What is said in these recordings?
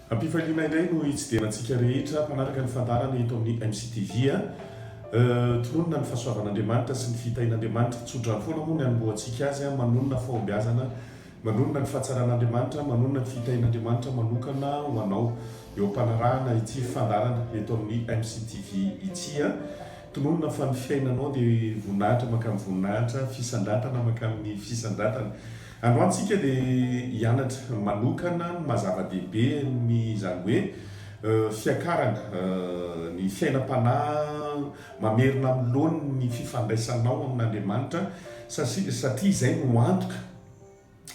Ampifaliana indray no hitsidera antsika rehetra mpanaraka ny fandaharana eto amin'ny MCTV. Tononina ny fahasoavan'Andriamanitra sy ny fitahian'Andriamanitra. Tso-drano foana moa ny anombohantsika azy, manonona fahombiazana, manonona ny fahatsaran'Andriamanitra, manonona ny fitahian'Andriamanitra manokana ho anao eo am-panarahana ity fandaharana eto amin'ny MCTV ity. Tononina fa ny fiainanao dia voninahitra mankany voninahitra, fisandratana mankany ny fisandratana. Androany tsika dia hianatra manokana ny maha-zava-dehibe ny izany hoe fiakarana ny fiainam-panahy mamerina amin'ny laoniny ny fifandraisanao amin'Andriamanitra satria izay no antoka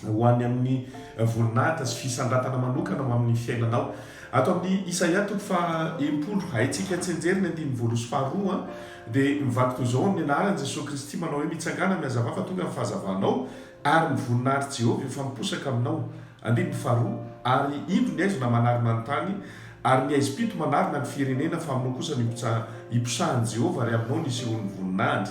ho any amin'ny voninahitra sy fisandratana manokana ho amin'ny fiainanao. Ato amin'ny Isaia toko faha-enimpolo, haintsika an-tsenjery ny andininy voalohasy faharoa, dia mivadika ho izao amin'ny anaran'i Jesoa Kristy manao hoe, Mitsangàna mihazavà fa tonga ny fahazavanao, ary ny voninahitr'i Jehovah efa miposaka aminao. Andininy faharoa, Ary indro ny haizina manarona ny tany, ary ny haizim-pito manarona ny firenena, fa aminao kosa no hiposahan'i Jehovah, ary aminao no hisehoan'ny voninahiny.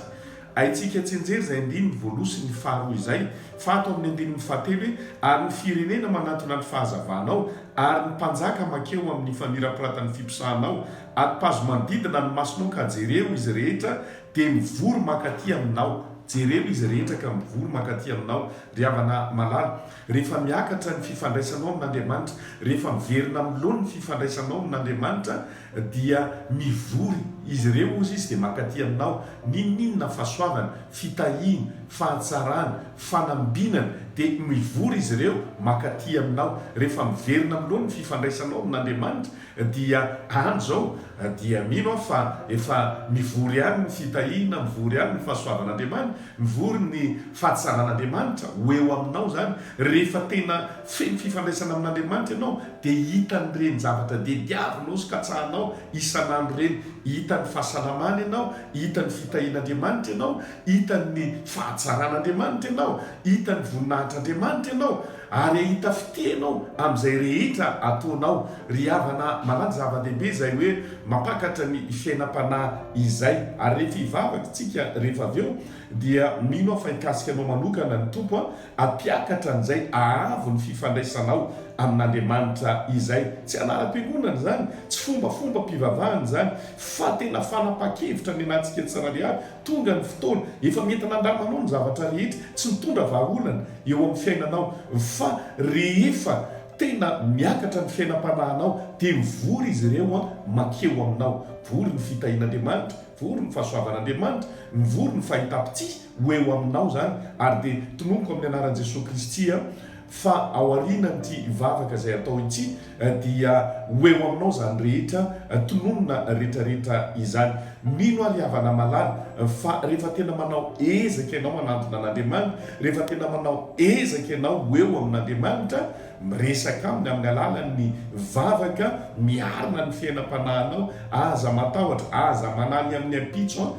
Haintsika tsianjery izay andininy voaloha sy ny faharoa izay, fa ato amin'ny andininy fahatelo hoe, Ary ny firenena manantona ny fahazavanao, ary ny mpanjaka mankeo amin'ny famirapiratan'ny fiposahanao, atipazo manodidina ny masonao ka jereo izy rehetra dia mivory mankaty aminao, jereo izy rehetra ka mivory mankaty aminao, ry havana malala, rehefa miakatra ny fifandraisanao amin'Andriamanitra, rehefa miverina amin'ny laoniny ny fifandraisanao amin'Andriamanitra, Dia mivory izy ireo ozy izy dia mankaty aminao, n'inon'inona fahasoavana, fitahiana, fahatsarana, fanambinana, dia mivory izy ireo mankaty aminao, rehefa miverina aminao ny fifandraisanao amin'Andriamanitra, dia any izao dia mino aho fa efa mivory any ny fitahiana, mivory any ny fahasoavan'Andriamanitra, mivory ny fahatsaran'Andriamanitra ho eo aminao izany, rehefa tena feno fifandraisana amin'Andriamanitra ianao, dia hitan'ireny zavatra diadiavinao sy katsahanao isan'andro ireny, hitan'ny fahasalamana ianao, hitan'ny fitahian'Andriamanitra ianao, hitan'ny fahatsaran'Andriamanitra ianao, hitan'ny voninahitr'Andriamanitra ianao, ary hahita fitia ianao amin'izay rehetra ataonao. Ry havana malala, zava-dehibe izay hoe mampakatra ny fiainam-panahy izay. Ary rehefa hivavaka isika rehefa avy eo, dia mino aho fa hikasika anao manokana ny Tompo, Hampiakatra an'izay haavo ny fifandraisanao amin'Andriamanitra izay. Tsy anaram-piangonana izany, tsy fombafombam-pivavahana izany, fa tena fanapahan-kevitra ny anatintsika tsirairay avy. Tonga ny fotoana, efa mety nandramanao ny zavatra rehetra tsy nitondra vahaolana eo amin'ny fiainanao, fa rehefa tena miakatra ny fiainam-panahinao, dia mivory izy ireo mankeo aminao. Vory ny fitahian'Andriamanitra, vory ny fahasoavan'Andriamanitra, mivory ny fahitam-pitia. ho eo aminao izany ary dia tononiko amin'ny anaran'i Jesoa Kristy aho fa ao aorianan'ity vavaka izay atao ity dia ho eo aminao izany rehetra tononina retraretra izany. Mino aho ry havana malala fa rehefa tena manao ezaka ianao hanantona an'Andriamanitra, rehefa tena manao ezaka ianao ho eo amin'Andriamanitra Miresaka aminy amin'ny alalan'ny vavaka miarina ny fiainam-panahinao, aza matahotra, aza manahy amin'ny ampitso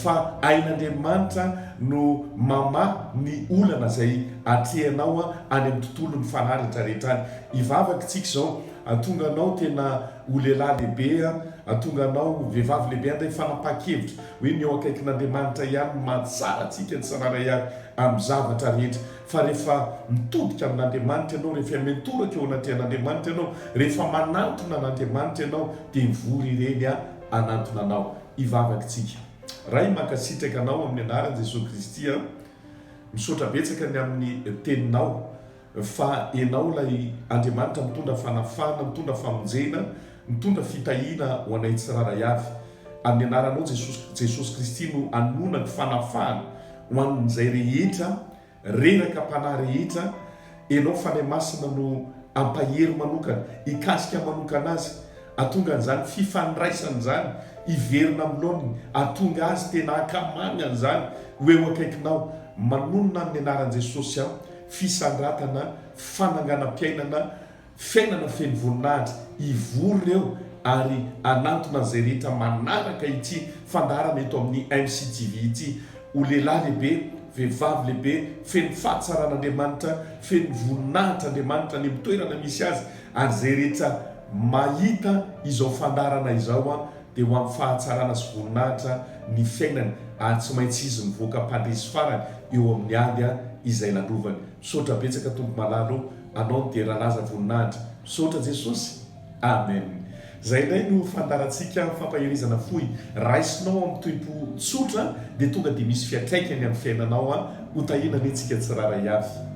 fa ain'Andriamanitra no mamaha ny olana izay atrehinao any amin'ny tontolon'ny fanahy rehetrarehetra any. Hivavaka isika izao, Hahatonga anao tena ho lehilahy lehibe aho, hahatonga anao ho vehivavy lehibe aho, ilay fanapahan-kevitra hoe ny eo akaikin'Andriamanitra ihany no mahatsara antsika tsirairay avy amin'ny zavatra rehetra. Fa rehefa mitodika amin'Andriamanitra ianao, rehefa mitoraka eo anatrehan'Andriamanitra ianao, rehefa manantona an'Andriamanitra ianao, dia mivory ireny hanantona anao. Hivavaka isika. Ray, mankasitraka Anao amin'ny anaran'i Jesoa Kristy aho. Misaotra betsaka ny amin'ny Teninao, fa Ianao ilay Andriamanitra mitondra fanafahana, mitondra famonjena, Mitondra fitahiana ho anay tsirairay avy. Amin'ny anaranao Jesosy, Jesosy Kristy no anonako fanafahana ho an'izay rehetra reraka mpanahy rehetra, Ianao Fanahy Masina no ampahery manokana, hikasika manokana azy, hatonga an'izany fifandraisana izany hiverina amin'ny laoniny, hatonga azy tena hankamamy an'izany ho eo akaikinao, manonona amin'ny anaran'i Jesosy aho, fisandratana, fananganam-piainana, Fiainana feno voninahitra hivory ireo ary hanantona izay rehetra manaraka ity fandaharana eto amin'ny MCTV ity ho lehilahy lehibe, vehivavy lehibe, feno fahatsaran'Andriamanitra, feno voninahitra Andriamanitra any amin'ny toerana misy azy ary izay rehetra mahita izao fandaharana izao dia ho amin'ny fahatsarana sy voninahitra ny fiainany ary tsy maintsy izy mivoaka mpandresy farany eo amin'ny ady izay nandrovany. Misaotra betsaka Tompo Malala o! Anao dia lalaza voninahitra. Misaotra Jesosy. Amen. Izay indray no fandaharantsika amin'ny fampaherizana fohy. Raisinao amin'ny toe-po tsotra dia tonga dia misy fiatraikany amin'ny fiainanao an. Ho tahiana anie tsika tsirairay avy.